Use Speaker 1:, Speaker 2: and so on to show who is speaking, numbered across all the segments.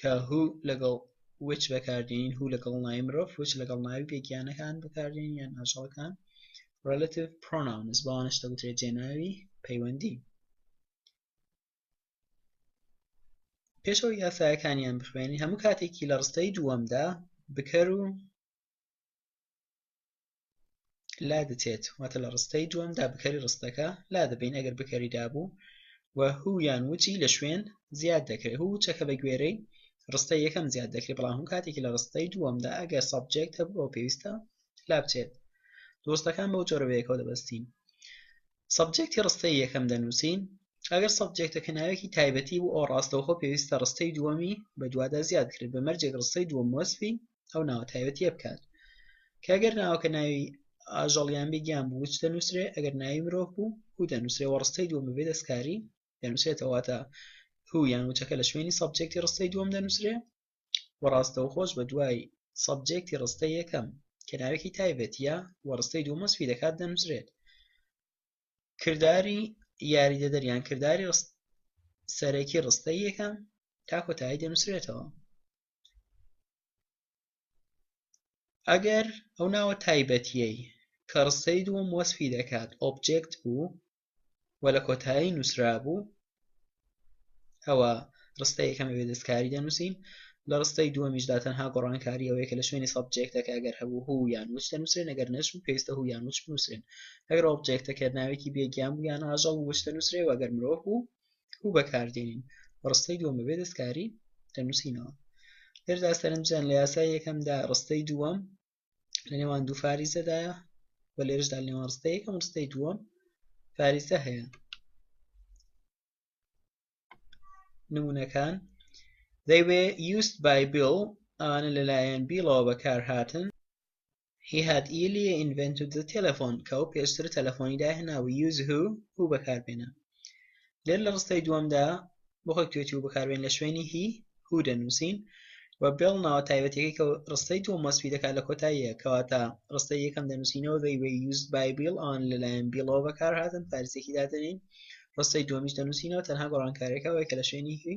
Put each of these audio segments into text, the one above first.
Speaker 1: کە who لەگەڵ which بەکاردێنین who لەگەڵ ناوی مرۆڤ which لەگەڵ ناوی بێگیانەکان بەکاردێنین یان ئاژەڵەکان relative pronouns بەوانش دەگوترێت جێناوی پەیوەندی پێشەوە یاسایەکانیان بخوێنین هەموو کاتێکی لە ڕستەی دووەمدا بکەر و لادەچێت واتە لە ڕستەی دووەمدا بکەری ڕستەکە لادەبین ئەگەر بکەری دابوو و هو یان وچی لە شوێن زیاد دەکرێت هو چەکە بە گوێرەی ڕستە یەکەم زیاد دەکرێت بەڵام هەم کاتێکی لە ڕستەی دووەمدا ئەگەر سابجێکت هەبوو ئەو پێویستە لا بچێت دۆستەکان بەو جۆرەوەیەکەوە دەبەستین سابجێکتی ڕستەی یەکەم دەنووسین ئەگەر سابجێکتەکە ناوێکی تایبەتی بوو ئەو ڕاستەوخۆ پێویستە ڕستەی دووەمی بە دوادا زیاد کرێت بە مەرجێک ڕستەی دووەم وەسفی ئەو ناوە تایبەتیە بکات کەگەر ناوەکە ناوی ئاژەڵیان بگیان بوو وچ دەنووسرێ ئەگەر ناوی مرۆڤ بوو و دەنووسێ و ڕستەی دووە بەبێ دەستکاری دەنووسێتەوەتە هو یان وچەکە لە شوێنی سەبجێکتی ڕستەی دووەم دەنووسرێ و ڕاستەوە خۆش بە دوای سەبجێکتی ڕستە یەکەم کە ناوێکی تایبەتە و ڕستەی دوومەسپی دەکات دەنووسرێت کردداری یاریدە دەریان کردداری سەرەکی ڕستە یەکەم تا کۆتایی دەنووسرێتەوە ئەگەر ئەو ناوە تایبەتیەی کە ڕسەی دووەم وەسفی دەکات ئۆبجێکت بوو و لە کۆتایی نووسرا بوو ئەوە ڕستە یەکەمە بێ دەستکاری دەنووسین لە ڕستەی دووەمیشدا تەنها گۆڕانکاری ئەوەیە کە لە شوێنی سەبجێکتەکە ئەگەر هەبوو هو یان وچ دەنووسرێن ئەگەر نەش بوو پێویستە هو یان وچ بنووسرێن ئەگەر ئۆبجێکتەکە ناوێکی بێگیان بوو یان ئاژەڵ وچ دەنووسرێ و ئەگەر مرۆڤ بوو و بەکاردێنین و ڕستەی دووەم بەبێ دەستکاری دەنووسینەوە لێردا سەرنجدان لە یاسای یەکەمدا ڕستەی دووەم لە نێوان دوو فاریزەدایە و لێرشدا لە نێوان ڕستەی یەکەم ڕستەی دووەم فاریزە هەیە نمونونەکان they were used by Bill ئەوانە لەلایەن بیڵەوە بەکارهاتن He had earlier invented the telephone کە ئەو پێشتر تەلەفۆنی داهێنا و use who who بەکاربێنە لێر لە ڕستەی دووەمدا بۆ خۆی توێتی و بەکاربێن لە شوێنی هی هو دەنووسین و بێڵ ناوە تایبەتەکەی کە ڕستەی دووەم وەسفی دەکات لە کۆتاییە کەواتە ڕستەی یەکەم دەنووسینەوە they were used by Bill ئەوان لەلایەن بیڵەوە بەکارهاتن فارسێکی دادەنین ڕستەی دووەمیش دەنووسینەوە تەنها گۆڕانکاریەکە ئەوەیە کە لە شوێنی هی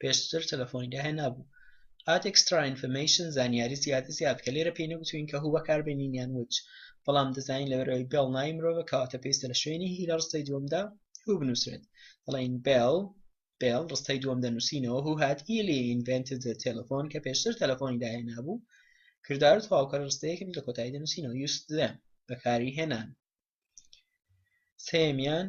Speaker 1: پێشتر تەلەفۆنی داهێنابوو Add extra information زانیاری زیادە زیاد کە لێرە پێی نەگوتووین کە هو بەکاربێنین یان which بەڵام دەزانین لەبەر ئەوەی بێڵ ناوی مرۆڤە کەواتە پێویستە لە شوێنی هی لە ڕستەی دووەمدا هو بنووسرێت دەڵێین بێڵ بێڵ ڕستەی دووەم دەنووسینەوە هو هات ئیلی invented the telephone کە پێشتر تەلەفۆنی داهێنابوو کردار و تەواوکەر ڕستەیەکن لە کۆتایی دەنووسینەوە used them بەکاری هێنان سێمیان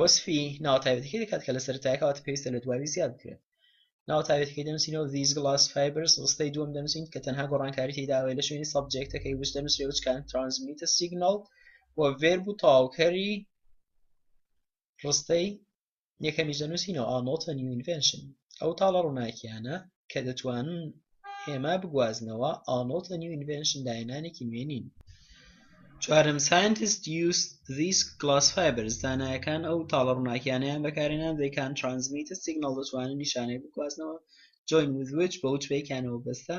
Speaker 1: وەسفی ناوە تایبەتەکەی دەکات کە لە سەرەتای کەواتە پێویستە لە دوایی زیاد بکرێت ناو تاوێتەکەی دەنووسینەوە ڤیز گڵاس فایبرس ڕستەی دووەم دەنووسین کە تەنها گۆڕانکاری تێداوێ لە شوێنی سەبجێکتەکەی وش دەنووسێ وچکان ترانسمیتە سیگنال و ڤێرب و تاوکەری ڕستەی یەکەمیش دەنووسینەوە ئارنۆڵد ە نیو ئینڤێنشن ئەو تاڵە ڕووناکییانە کە دەتوانن هێما بگوازنەوە ئارنۆڵد ە نیو ئینڤێنشن داهێنانێکی نوێ نین چوارەم ساینتست یوست ذیس گلاس فایبرز زانایەکان ئەو تاڵە ڕووناکییانەیان بەکارهێنا ذەی کان ترانسمیت ە سیگناڵ دەتوانن نیشانەی بگوازنەوە جۆین ویز ویچ بە وچ بەیەکیانەوە بەستە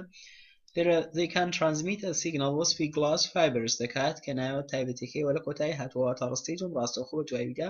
Speaker 1: لێرە ذەی کان ترانسمیت ە سیگناڵ وەسفی گلاس فایبرز دەکات کە ناوە تایبەتیەکەی وە لە کۆتایی هاتووە واتا ڕستەی دووەم ڕاستەوخۆ بە دواییدا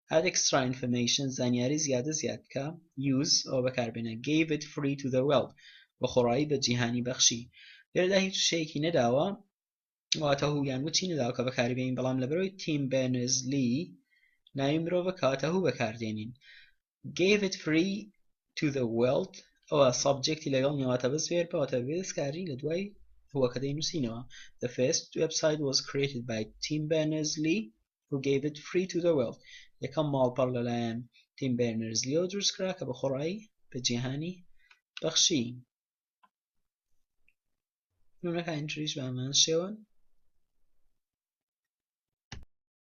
Speaker 1: Add extra information زانیاری زیادە زیاد بکە Use ەوە بەکاربێنە Gave it free to the world بەخۆڕایی بە جیهانی بەخشی لێرەدا هیچ وشەیەکی نەداوە واتە هو یان وچی نەداوە کە بەکاری بێنین بەڵام لەبەرەوەی تیم بێرنز لی ناوی مرۆڤە کەواتە هو بەکاردێنین Gave it free to the world ئەوە سابجێکتی لەگەڵ نیواتە بەس وێر بەواتە بێدەستکاری لە دوای هوەکە دەینووسینەوە The first website was created by Tim Berners-Lee who gave it free to the world یەکەم ماڵپەڕ لەلایەن تیم بێرنرز لیۆ دروستکرا کە بەخۆڕایی بە جیهانی بەخشی نمونەکانی تریش بە هەمان شێوەن